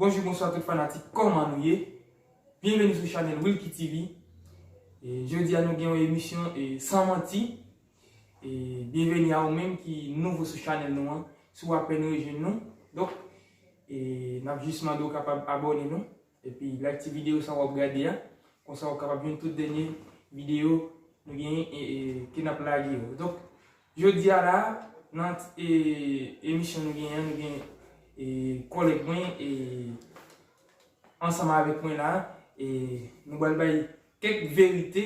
Bonjou bonswa tout fanatik kòman nou ye Byenveni sou chanèl Wilky TV Jodi a nou gen yon emisyon san manti E byenveni a ou menm ki nouvo sou chanèl nou an, si w apèn rejwenn nou, donk e n ap jis mande w kapab abòne nou, epi like ti videyo sa w ap gade a, konsa ou kapab jwenn tout dènye videyo nou genyen e ke n ap lage yo. Donk, jodi a la a, nan e emisyon nou genyen an, nou gen e kòlèg mwen e ansanm avèk mwen la a, e nou pral bay kèk verite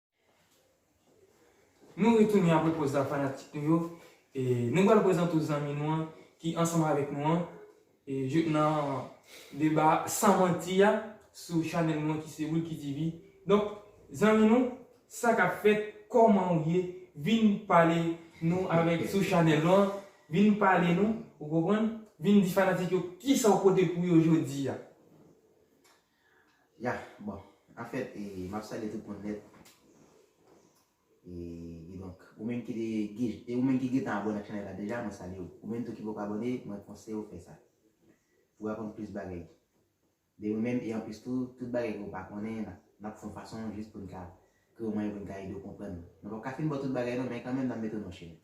Nou retounen apre poz la fanatik nou yo e nou pral prezante w zanmi nou an ki ansanm avèk nou an jouk nan deba san manti a sou chanèl nou an ki se Wilky TV donk zanmi nou sa kap fèt kòman ou ye vin pale nou avèk sou chanèl nou an vin pale nou ou konprann vin di fanatik yo kisa ou pote pou yo jodi a Ya bon anfèt e map salye tout moun nèt e kidonk ou menm ki te gid e ou menm ki gentan abòne ak chanèl la deja mwen salye w ou menm tou ki poko abòne mwen konseye w fè sa pou w aprann plis bagay de nou menm e anplis tou tout bagay ke w pa konnen nap nap fè yon fason jis pou n ka twouve mwayen pou n ka ede w konprann nou pap ka fin ba w tout bagay non men kanmenm nap mete w nan chemen.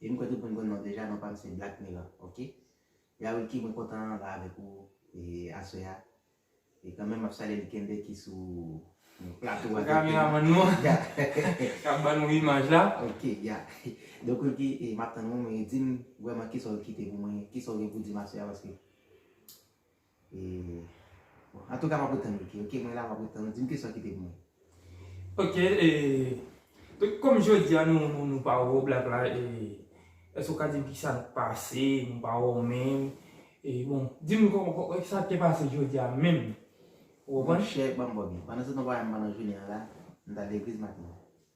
Wi m kwè tout moun konnenw deja non pam se black milan ok Ya Wilky mwen kontan la avèk ou aswè a e kanmenm map salye li kenbe ki sou plato a kameraman nou an kap ban nou imaj la ok ya donk Wilky map tann ou men dim vrèman kisaw kite pou mwen kisaw gen pou dim aswè a paske. Bon antouka map ret tann ok ok mwen la map ret tann ou dim kesyon kite pou mwen. Ok e kom jodia nou pa wè w black la e eske ou ka dim kisa k pase nou pa wè w menm e bon dim sa k te pase jodia menm ou konprann. Monchè banm bògè pandan se tan w pa wè m pandan jounen an la m t al legliz maten an.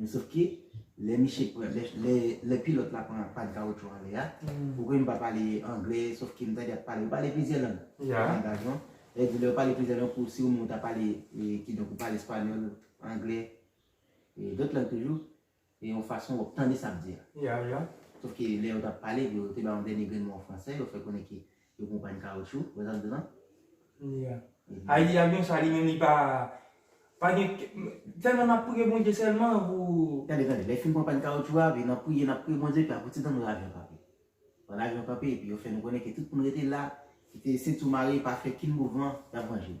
Men sof ke, lè miche pran, lè, lè pilòt la pran pat kawoutchou anlè a, ou konnen m pa pale anglè, sof ke m tande yap pale, ou pale plizyè lang nan langaj ou an, lè di lè ou pale plizyè lang pou si ou menm ou ta pale, kidonk ou pale espanyòl, anglè, e dòt lang toujou, e yon fason wap tande sa ap di a. Sof ke lè yo tap pale, yo te bay yon dènye grenn mo an fransè, yo fè konnen ke. Yon konpay kaoutchou wè zak dra. Nia. Haiti avion sa li menm li pa pa gen selman nap priye Bondye selman pou. Tande tande lè fin konpay kaoutchou a nan priye nap priye Bondye epi apre ti tan nou wè avion kanpe. Pandan avion kanpe epi yo fè nou konnen ke tout moun rete la kite sentiu mare pa fè kin mouvman yap vanje nou.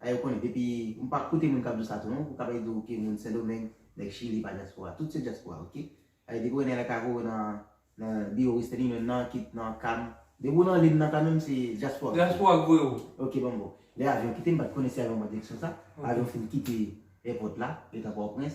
A yo konnen depi m pa koute moun kap di w sa tou non pou kapè di w ke moun sendomeng nèg chili pa dyaspora tout se dyaspora ok a yo depi w nan lè kaka w nan nan biwo western union nan kit nan cam depi w nan lin nan kanmenm se dyaspora w ye dyaspora k voye w ok bon bon lè avyon kite m pat konnen si avyon pran direksyon sa avyon fin kite èpòt la yo t a pòtoprens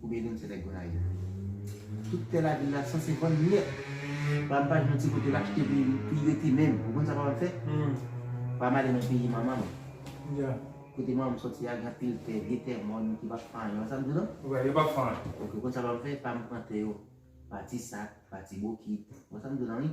Koubyen nou se nèg Gonayiv? Tout tè lavil la sanse vann nèt. Pam pa jwenn ti kote l achte pou l rete menm. Ou konn sa pam ap fè? Pam ale nan peyi manman m. Kote manman m soti a gen anpil tè, vye tè mòn ki pa fanyen. Ou konn sa m di w non? Wè, yo pa fanyen. Ok, ou konn sa pam fè? Pam pran tè yo pa ti sak, pa ti bokit. Ou konn sa m di w la wi?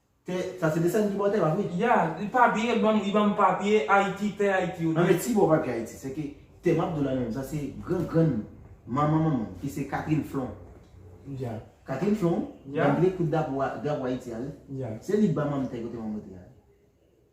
Tè sa se desann ki baw tè pa vre? Ya, li pa byen li banm li banm papye ayiti tè ayiti yo Anmèd si baw papye ayiti se ke tè map diw la menm sa se gran grann manman manman m ki se Catherine flon Ya Catherine flon banm vle kout dapo drapo ayiti a wi Ya se li banm anm tè kote manman te a wi.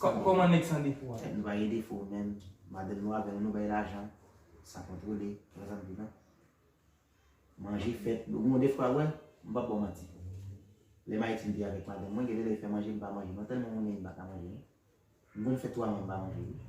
Koman nèg san defo a. Nou pa gen defo menm madanm nou avèl nou bay lajan sa kontrole wè sa m di non manje fèt ou gon defwa wè m pap baw manti lèm ayiti m te avèk madanm mwen gen de lè li fè manje m pa manje non tèlman m renmen li m paka manje non m konn fè 3 mwa m pa manje wi.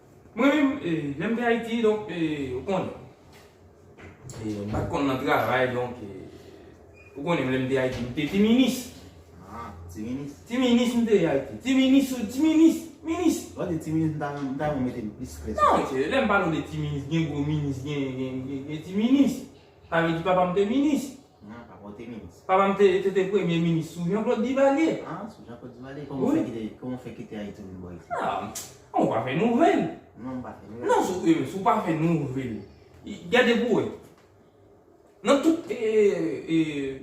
Mwen menm lèm te ayiti donk ou konn m pat konn nan travay donk ou konnen m lèm te ayiti m te ti minis ti minis m te ayiti ti minis ou ti minis minis nan mesye lèm pale w de ti minis gen gwo minis gen ti minis sa vle di papam te minis. Nan, pa pote minis. Papa m te te premye minis sou Jean-Claude Duvalier. A, sou Jean-Claude Duvalier? Kòman w fè kite, kòman w fè kite Ayiti vin bò isit? A, mwen pa fè nouvèl. Non, ou pa fè nouvèl. Non, sou, si w pa fè nouvèl. Gade pou w wè. Nan tout, e, e,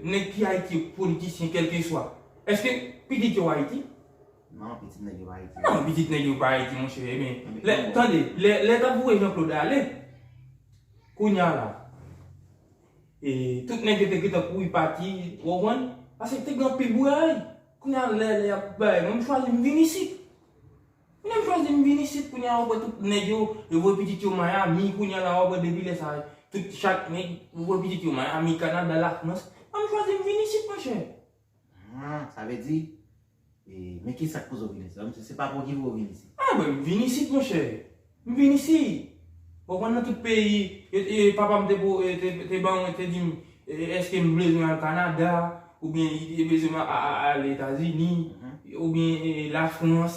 nèg ki Ayiti yo, politisyen kèlkeswa, èske pitit yo Ayiti? Non, pitit nèg yo pa Ayiti. Non, pitit nèg yo pa Ayiti, monchè. E men, lè, tande, lè, lè t ap voye Jean-Claude ale, kounye a la. E tout nèg yo te gentan kouri pati, ou konprann? Paske te gen anpil bouray. Kounye a lè lè ap bay, mwen m chwazi m vin isit. Kounye m chwazi m vin isit, kounye a ou wè tout nèg yo, yo voye pitit yo Miami, kounye a la ou wè depi lè sa, tout chak nèg voye pitit yo Miami, Canada, la France. Mwen m chwazi m vin isit monchè. Haa sa vle di Eee men ki sak pozo vini isit la mesye se pa pou ki pou yo vini isit. Ah mwen m vin isit monchè m vin isi bon konn nan tout peyi e papa m te pou te ban mwen te di m eske m bezwen al kanada oubyen li te bezwen m al etazini oubyen la frans.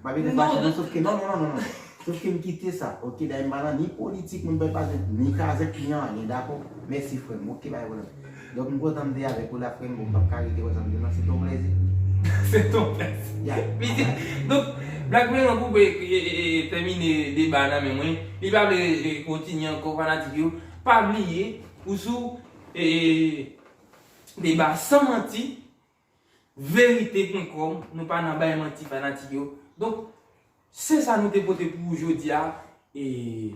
M pa gen tèt chaje non sofke non non non sofke m kite sa ok dayè m pa nan ni politik moun pa pale ni kazèk ni anyen dakò mèsi frè m ok bay pwoblèm donk m kontan m te avèk ou la frè m bon m pap ka rete konsa m di w nan se ton plèzi se ton plèzi ya li di donk black melon koupe tèmine deba nan men mwen li pa vle kontinye ankò fanatik yo pa bliye ou sou deba san manti. Verite point com nou pa nan bay manti fanatik yo donk se sa nou te pote pou ou jodia e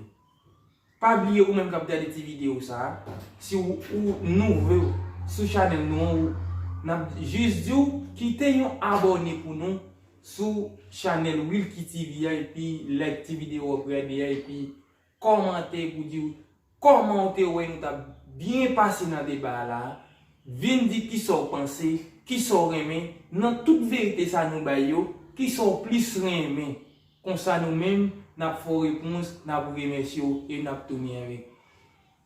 pa bliye ou menm kap gade ti video sa si ou nouvo sou chanel nou an ou nap jis di ou kite yon abone pou nou sou chanel wilky tv a epi like ti video wap gade a epi Kòmante pou diw kòman ou te wè nou tap byen pase nan deba a la a, vin di kisa ou panse, kisa ou renmen nan tout verite sa nou bay yo, kisa ou plis renmen. Konsa nou menm nap fè w repons, nap remèsye w e nap tounen ri.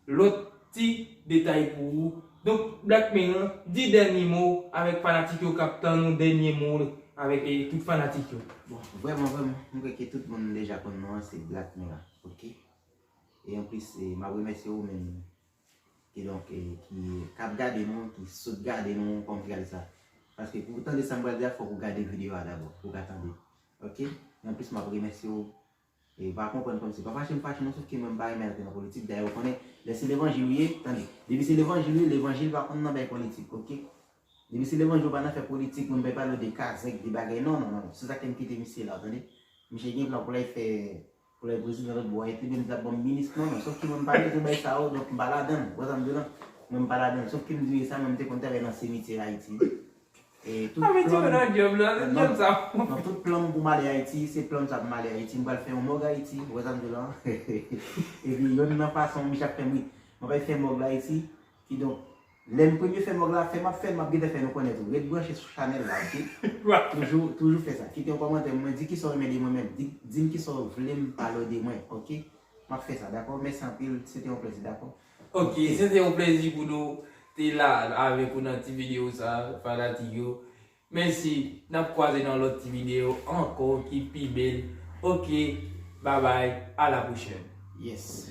Lòt ti detay pou ou. Donk Black men lan di dènye mo avèk fanatik yo kap tann ou dènye mo l avèk tout fanatik yo. Bon vrèman vrèman m kwè ke tout moun deja konn non an se Black men lan ok e anplis map remèsye ou menm ki donk ki kap gade nou ki sot gade nou kòm tray sa paske pou tande sam pral di a fòk ou gade videyo a dabò pou ka tande ok e anplis map remèsye ou Ew pa konprann kòmsi. Pa fache m fache non sof ke mwen m pa renmen antre nan politik dayè ou konnen lè se levanjil ou ye tande depi se levanjil ou ye levanjil pa konn nan bay politik ok depi se levanjil ou pa nan fè politik mwen m pa pale ou de kazèk de bagay non non non se sa fè m kite misye la ou tande misye gen plan pou lay fè pou lay prezidan lòt bò epi menm lap banm minis non non sof ke mwen m pa bezwen bay sa yo donk m pa ladann ou wè sa m di w la mwen m pa ladann sof ke m di w sa mwen m te konn travay nan semityè ayiti wi Mwen mete w nan dyob la, se dyob sa w. Nan tout plan m pou m ale Ayiti, se plan sa pou m ale Ayiti. M pral fè yon mòg Ayiti, ou wè sa m di w la. Epi yonn nan fason misye ap fè m ri. Mwen pral fè mòg la Ayiti, kidonk, lè m premye fè mòg la, fè m ap fè l, m ap gentan fè nou konnen tou. Ret branche sou chanèl la ok. Toujou, toujou fè sa. Kite yon kòmantè pou mwen, di kisa w renmen de mwen menm. Di, di m kisa w vle m pale w de mwen ok. M ap fè sa dakò. Mèsi anpil, se te yon plezi dakò. Ok se te yon plezi pou nou te la avèk ou nan ti video sa fanatik yo mèsi nap kwaze nan lòt ti video ankò ki pi bél ok babay a la pwochèn yes.